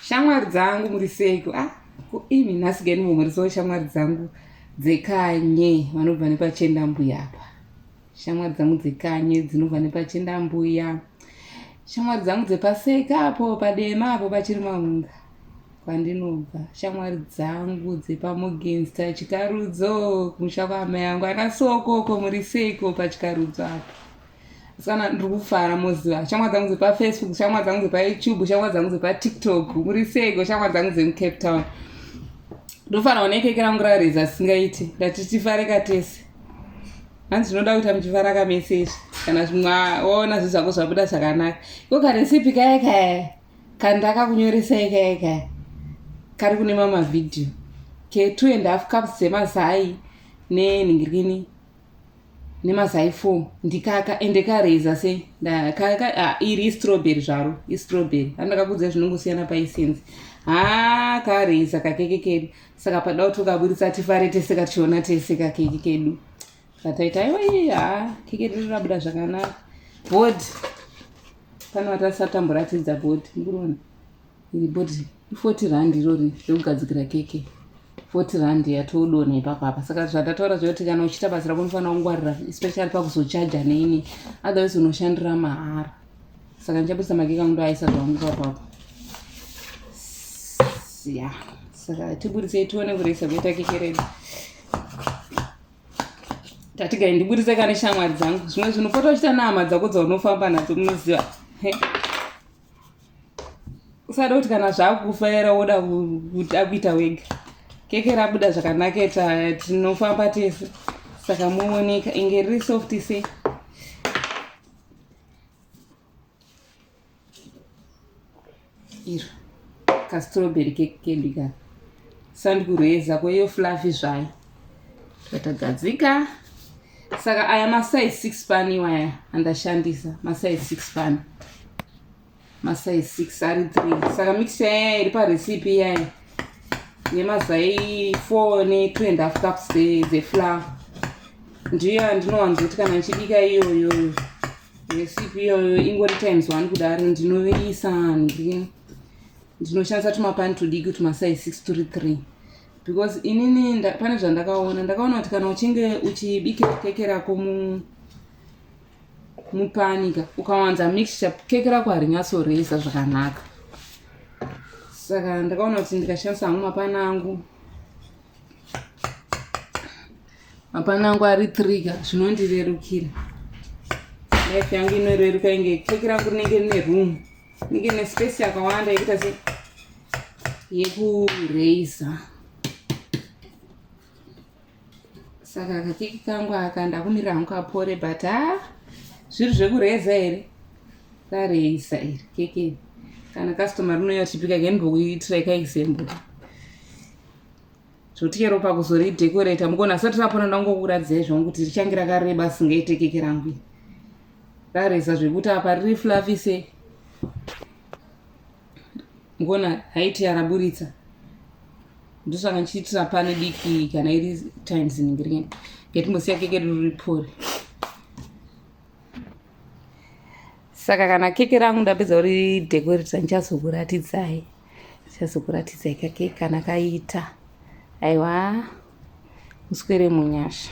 shamwari dzangu muri seiko ah kuimi nhasi gani vomhorisawo shamwari dzangu dzekanye vanobva nepachenda mbuya apa shamwari dzangu dzekanye dzinobva nepachenda mbuya shamwari dzangu dzepaseka apo padema apo pachiri mahunga kwandinobva shamwari dzangu dzepamogensta chikarudzo kumusha kwaamai yangu ana sokoko muri seiko pachikarudzo apo Sana ndiri kufara moziva shamwa dzangu dzepafacebook shamwa dzangu dzepayoutube shamwa dzangu dzepatiktok muri sego shamwa dzangu dzemucape town ndofara one keke rangu rareza singaiti ndati tifareka tese hanzi zvinoda kuita muchifara kamese izvi kana zvimwaona zvi zvako zvabuda zvakanaka iko karesipi kaye kaye kandaka kunyoresai kaye kaye kari kune mama vhidhiyo ke two and half cups dzemazai nenhingirini nemazai four ndikaka ende kareza sei ah, iri istroberi zvaro istroberi andakakudza zvinongosiyana paisenzi haa kareza kakeke kedu saka pada kuti ukaburitsa tifare tese kationa tese kakeke kedu kataita aiwa iye haa keke redu rabuda zvakanaka bod pano vatasatambura tidza bod mukuriona iri body i40 rand irori rekugadzikira keke 40 rand yatodona ipapa apa saka zvandataura zvekuti kana uchiita basa rako unofanira kungwarira especially pakuzochaja neini otherwise unoshandira mahara saka ndichabudisa makeke angu ndoaisa zvangu papapa ya saka tiburisei tione kuresa kuita keke redu tatigai ndiburitse kane shamwari dzangu zvimwe zvinopota uchita nehama dzako dzaunofamba nadzo munoziva usada kuti kana zvakufa era woda kuti akuita wega keke rabuda zvakanaketa tinofamba tese saka mooneka inge riri soft se iro kastroberi keke kedu ka sandikureza kweiyo flafi zvayo tatagadzika saka aya masize six pan iwaya andashandisa masize six pan masize six ari three saka mixture yaya iri parecipe iyaya nemazai four netwo and half cups dzeflower ndiyo yandinowanzoti kana ndichibika iyoyoyo recipe iyoyo ingori times one kudaro ndinoviisa ndii ndinoshandisa tumapani tudiki tumasai 6 turi 3 because inini nda, pane zvandakaona ndakaona kuti kana uchinge uchibike keke rako mu mupanika ukawanza mixture keke rako harinyatsoresa zvakanaka saka ndakaona kuti ndikashandisa hangu mapani angu mapani angu ari trigger zvinondirerukira life yangu inoreruka inge keke rangu rinenge rine room ndinge ne space yakawanda yekuita se yekuraiza saka kakeki kangu aka ndakumirira hangu kapore but ha ah, zviri zvekuraiza here raraiza iri keke kana customer rinouya tichipika kainbokuitira ikaexample zvekuti chero pakuzoridhekoreta mukona asati rapona ndangokuradzirai zvangu kuti richange rakareba asingaitekeke rangu rareza zvekuti apa riri flavise mukona haiti yaraburitsa ndosaka ndichiitira pane diki kana iri times ningirien ngetimbosiya keke riri pori saka kana keke rangu ndapedza uri dekoreta ndichazokuratidzai chazokuratidzai kake kana kaita aiwa muswere munyasha